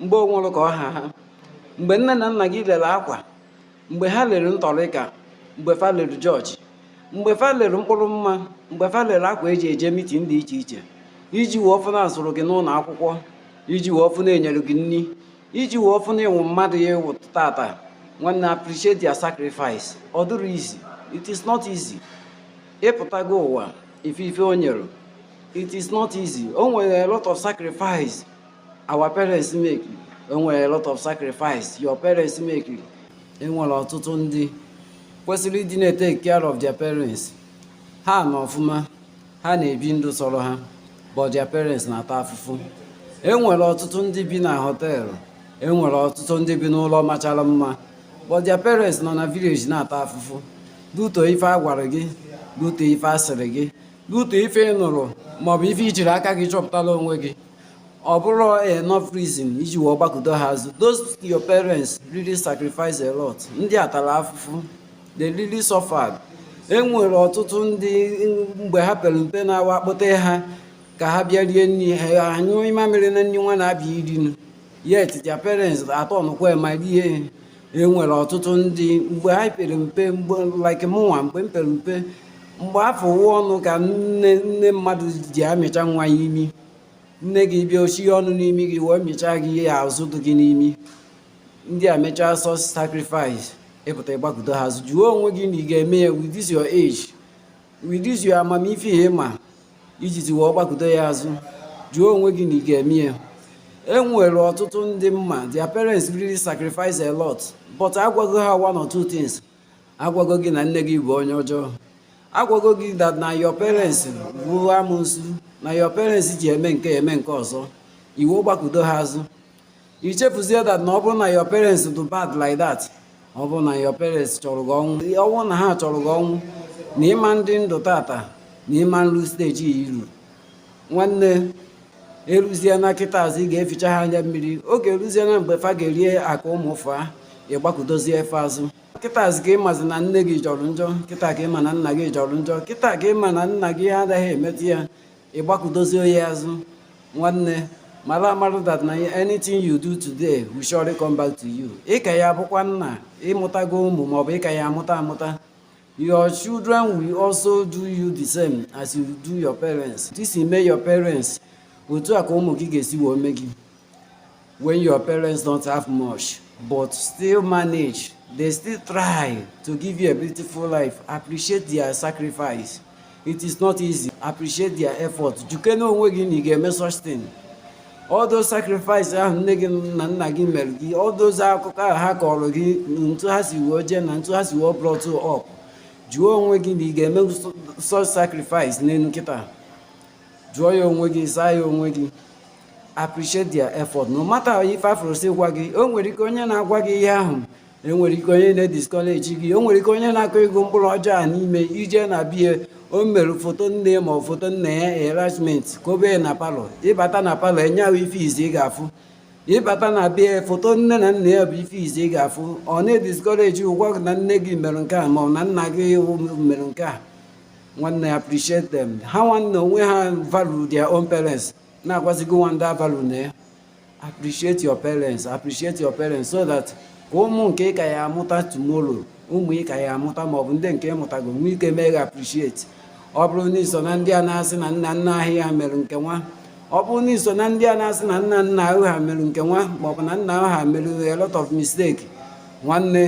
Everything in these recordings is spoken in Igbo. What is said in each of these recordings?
mgbe o nwere ka ọ ha ha mgbe nne na nna gị lere akwa mgbe ha lere ntọrịka mgbe fa lere jọji mgbe fa lere mkpụrụ mma mgbe fa lere akwa eji eje mitin dị iche iche iji wee fụ na a zụrụ gị n'ụlọ akwụkwọ iji wee fụ na e nyere gị nri iji wee fụ na ị wụ mmadụ ya ị wụ tata nwanne appreciate their sacrifice ọ dịrọ easy it is not easy ịpụtago ụwa ife ife o nyere it is not easy o nwere a lot of sacrifice our parents make enwere a lot of sacrifice your parents make enwere ọtụtụ ndị kwesịrị ịdị na-etake care of their parents ha nọ ọfụma ha na-ebi ndụ sọrọ ha but their parents na-ata afụfụ enwere ọtụtụ ndị bi na họteelụ enwere ọtụtụ ndị bi n'ụlọ machara mma but their parents nọ na village na-ata afụfụ due to ife a gwara gị due to ife a sịrị gị due to ife ị nụrụ maọbụ ife i jiri aka gị chọpụtala onwe gị ọ bụrọ enough reason iji wee gbakudo ha azụ those your parents really sacrifice a lot ndị a tara afụfụ they really suffered e nwere ọtụtụ ndị mgbe ha pere mpe na nwa a kpọta ha ka ha bịa rie nri ha anyụ mamịrị na nri nwa na-abịa iri yet their parents atọ nụkwa ma rie e nwere ọtụtụ ndị mgbe ha pere mpe like mụnwa mgbe m pere mpe mgbe afụ nwa ọnụ ka nne nne mmadụ ji amịcha nwa ya imi nne gị bịa ochie ọnụ n'imi gị wee mịchaa gị ihe azụzụ dị gị n'imi ndị a mechaa such sacrifice ị pụta ị gbakudo ha azụ jụọ onwe gị na ị ga-eme ya with this your age with this your amamife ihe ị ma i jizi wee gbakudo ya azụ jụọ onwe gị na ị ga-eme ya e nwere ọtụtụ ndị m ma their parents really sacrifice a lot but agwago ha one or two things agwago gị na nne gị bụ onye ọjọọ agwago gị that na your parents bụ amụsụ na your parents ji eme nke eme nke ọzọ i wee gbakudo ha azụ i chefuzie that na ọ bụrụ na your parents dị bad like that ọ bụrụ na your parents chọrọ gị ọnwụ ọ bụrụ na ha chọrọ gị ọnwụ na ị ma ndị ndụ tata na ị ma nru stage a i ru nwanne eruzie na kịtazị ị ga-eficha ha anya mmiri oge eruzie na mgbe fa ga-erie aka ụmụ fa ị gbakudozie fa azụ kịtazị ka ị mazi na nne gị jọrọ njọ kịta ka ị ma na nna gị jọrọ njọ kịta ka ị ma na nna gị anaghị emeta ya ị gbakudozie ya azụ nwanne mara amara that na anything you do today will surely come back to you ị ka ya-abụkwa nna ị mụtago ụmụ maọbụ ị ka ya-amụta amụta Your children will also do you the same as you do your parents. This will make your parents otu a ka ụmụ gị ga-esi wee mee gị when your parents don't have much but still manage they still try to give you a beautiful life appreciate their sacrifice it is not easy appreciate their effort jụkene onwe gị na ị ga-eme such thing all those sacrifice ahụ nne gị na nna gị mere gị all those akụkọ ahụ ha kọrọ gị etu ha si wee jee na etu ha si wee brought you up jụọ onwe gị na ị ga-eme such sacrifice n'elu nkịta jụọ ya onwe gị saa ya onwe gị appreciate their effort no matter ife a fụrụ si gwa gị o nwere ike onye na-agwa gị ihe ahụ e nwere ike onye na-ediscourage gị o nwere ike onye na-akụ gị mkpụrụ ọjọọ a n'ime i jee na be ya o mere foto nne ma ọ foto nna ya enlargement kobe na palọ ị bata na palọ onye ahụ ife izizi ị ga-afụ ị bata na be ya foto nne na nna ya bụ ife izizi ị ga-afụ ọ na-ediscourage gị gwa gị na nne gị mere nke a ma ọ na nna gị mere nke a nwanne appreciate them ha nwa n'onwe ha value their own parents na-agwazi gị undervalue na ya appreciate your parents appreciate your parents so that ka ụmụ nke ị ka ya-amụta tomorrow ụmụ ị ka ya-amụta maọbụ ndị nke ị mụtago nwee ike mee gị appreciate ọ bụrụ na i so na ndị a na-asị na nne na nna ahụ ha mere nke nwa ọ bụrụ na i so na ndị a na-asị na nne na nna ahụ ha mere nke nwa maọbụ na nna ahụ ha mere a lot of mistake nwanne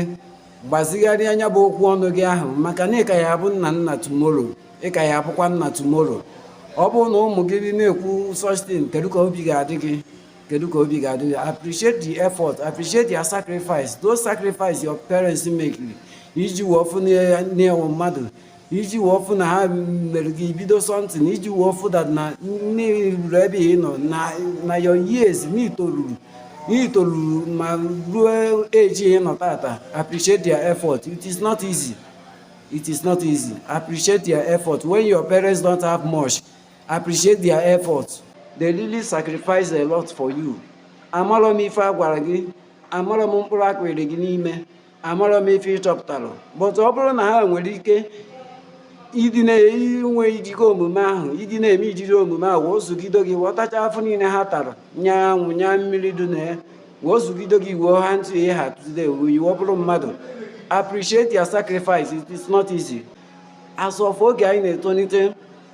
gbazigharịa nya bụ okwu ọnụ gị ahụ maka na ị ka ya-abụ nne na nna tomorrow ị ka ya-abụkwa nna tomorrow ọ bụrụ na ụmụ gị na-ekwu such thing kedu ka obi ga-adị gị kedu ka obi ga-adị gị appreciate their effort appreciate their sacrifice those sacrifice your parents make iji wee fụ na ị wụ mmadụ iji wee fụ na ha mere gị bido something iji wee fụ that na i ruru ebe ị nọ na your years na i toruru na i toruru ma ruo age ị nọ tata appreciate their effort it is not easy it is not easy appreciate their effort when your parents don't have much appreciate their effort they really sacrifice a lot for you amarọ m ife a gwara gị amarọ m mkpụrụ a kụrụ gị n'ime amarọ m ife ị chọpụtara but ọ bụrụ na ha nwere ike ịdị na-enwe ijikọ omume ahụ ịdị na-eme ijiri omume ahụ wee zụgido gị tacha afụfụ niile ha tara nya anwụ nya mmiri dị na ya wee zụgido gị wuo ha ntụ ihe ha tụde ewu i wee bụrụ mmadụ appreciate their sacrifice it is not easy as of oge anyị na-etolite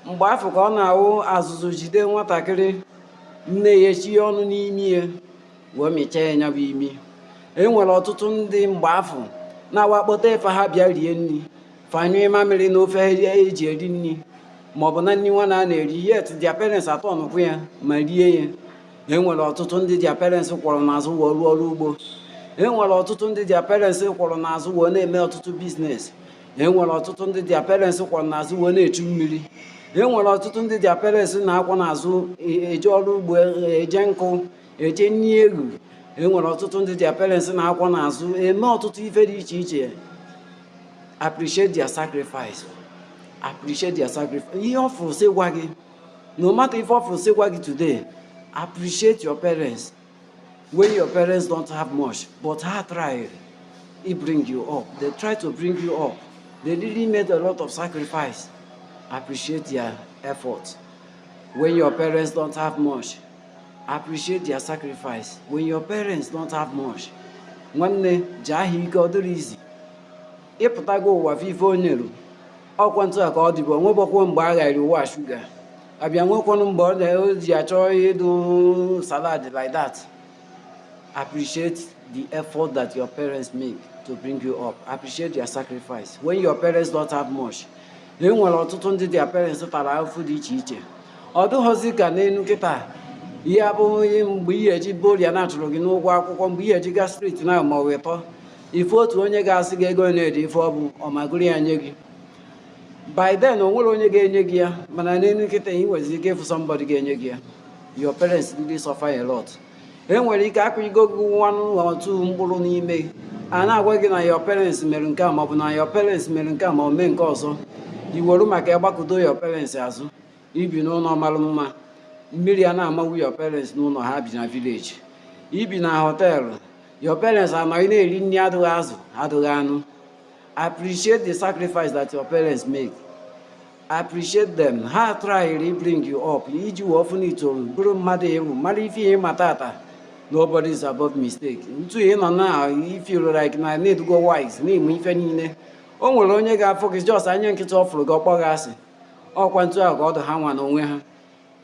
mgbe afụ ka ọ na-awụ azụzụ jide nwatakịrị nne ya chie ọnụ n'imi ya wee mịchaa ya nya bụ imi e nwere ọtụtụ ndị mgbe afụ na-awa kpọta efe ha bịa rie nri fa nyụọ mamịrị na ofe e ji eri nri maọbụ na nri nwa a na-eri yet their parents atọ nụkwụ ya ma rie ya e nwere ọtụtụ ndị their parents kwọrọ n'azụ wee rụọ ọrụ ugbo e nwere ọtụtụ ndị their parents kwọrọ n'azụ wee na-eme ọtụtụ business e nwere ọtụtụ ndị their parents kwọrọ n'azụ wee na-echu mmiri e nwere ọtụtụ ndị their parents na-akwọ n'azụ e, eje ọrụ ugbo e, eje nkụ eche nri egwu enwere ọtụtụ ndị their parents na-akwọ n'azụ eme ọtụtụ ife dị iche iche appreciate their sacrifice appreciate their sacrifice ihe ọ fụrụ sị gwa gị no matter ife ọ fụrụ sị gwa gị today appreciate your parents when your parents don't have much but ha tryịrị bring you up they try to bring you up they really made a lot of sacrifice appreciate their effort when your parents don't have much appreciate their sacrifice when your parents don't have much nwanne ji ahịa ike ọ dịrọ easy ị pụtago ụwa vive onye ru ọ kwa ntu a ka ọ dịbụ o nwebukwa mgbe a ghara ụwa shuga a bịa nwekwanụ mgbe ọ na-eji achọ ịdụ salad like that appreciate the effort that your parents make to bring you up appreciate their sacrifice when your parents don't have much na e nwere ọtụtụ ndị their parents tara afụfụ dị iche iche ọ dụghịzi ka n'elu nkịta ihe abụghị mgbe ihe eji boria na-achụrụ gị n'ụgwọ akwụkwọ mgbe ihe eji gaa steeti na ma ọ tọ ife otu onye ga-asị gị ego na-ede ife ọ bụ ọmagụrụ ya nye gị by then o nwere onye ga-enye gị ya mana n'elu nkịta ị nwezi ike ịfụ somebody ga-enye gị ya your parents really suffer a lot e nwere ike a kụnyego gị one or two mkpụrụ n'ime gị a na-agwa gị na your parents mere nke a maọbụ na your parents mere nke a ma o mee nke ọzọ i weru maka ya gbakụdo your parents azụ i bi n'ụlọ mara mma mmiri a na-amawu your parents n'ụlọ ha bi na village i bi na hotel your parents anọrọ na-eri nri adịghị azụ adịghị anụ appreciate the sacrifice that your parents make appreciate them ha tryịrị bring you up iji wee fụ na i tolu bụrụ mmadụ i wee mara ife ị ma tata nobody is above mistake ntu ị nọ na-efeel like na ị dụgo wise na ị ma ife niile o nwere onye ga-afụ gị just anya nkịta ọ fụrụ gị ọ kpọọ gị asị ọ kwa ntu ahụ ka ọ dụ ha nwa na onwe ha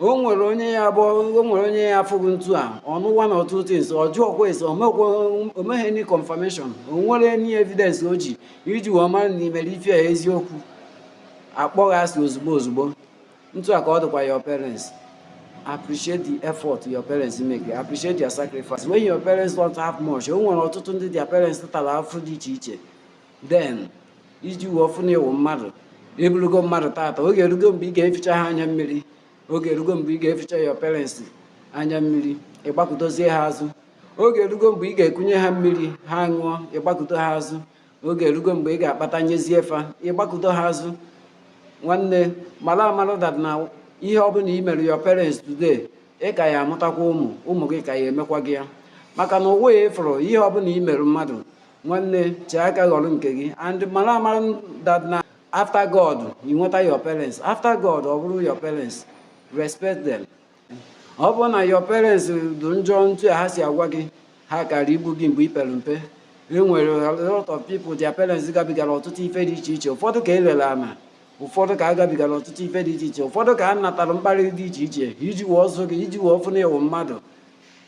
o nwere onye ya bụ o nwere onye ga-afụ gị ntu a ọ nụ one or two things ọ jụrọkwa ese o meghị any confirmation o nwerọ any evidence o ji iji wee mara na i mere ife a eziokwu ọ kpọọ gị asị ozugbo ozugbo ntu a ka ọ dịkwa your parents appreciate the effort your parents make appreciate their sacrifice when your parents don't have much o nwere ọtụtụ ndị their parents tara afụfụ dị iche iche then iji wee fụ na ị wụ mmadụ ị bụrụgo mmadụ tata oge erugo mgbe ị ga-eficha ha anya mmiri oge erugo mgbe ị ga-eficha your parents anya mmiri ị gbakụdozie ha azụ oge erugo mgbe ị ga-ekunye ha mmiri ha ṅụọ ị gbakụdo ha azụ oge erugo mgbe ị ga-akpata nyezie fa ị gbakụdo ha azụ nwanne mara amara that na ihe ọbụla i mere your parents today ị ka ga-amụtakwa ụmụ ụmụ gị ka ga-emekwa gị ya maka na ụwa a ị fụrụ ihe ọbụla i mere mmadụ nwanne chee aka ghọrọ nke gị and mara amara that na after god you nweta your parents after god ọ bụrụ your parents respect them ọ bụrụ na your parents dị njọ etu ha si agwa gị ha kara igbu gị mgbe i pere mpe e nwere a lot of people their parents gabigara ọtụtụ ife dị iche iche ụfọdụ ka e lere ama ụfọdụ ka a gabigara ọtụtụ ife dị iche iche ụfọdụ ka a natara mkparị dị iche iche iji wee zụọ gị iji wee fụ na ị wụ mmadụ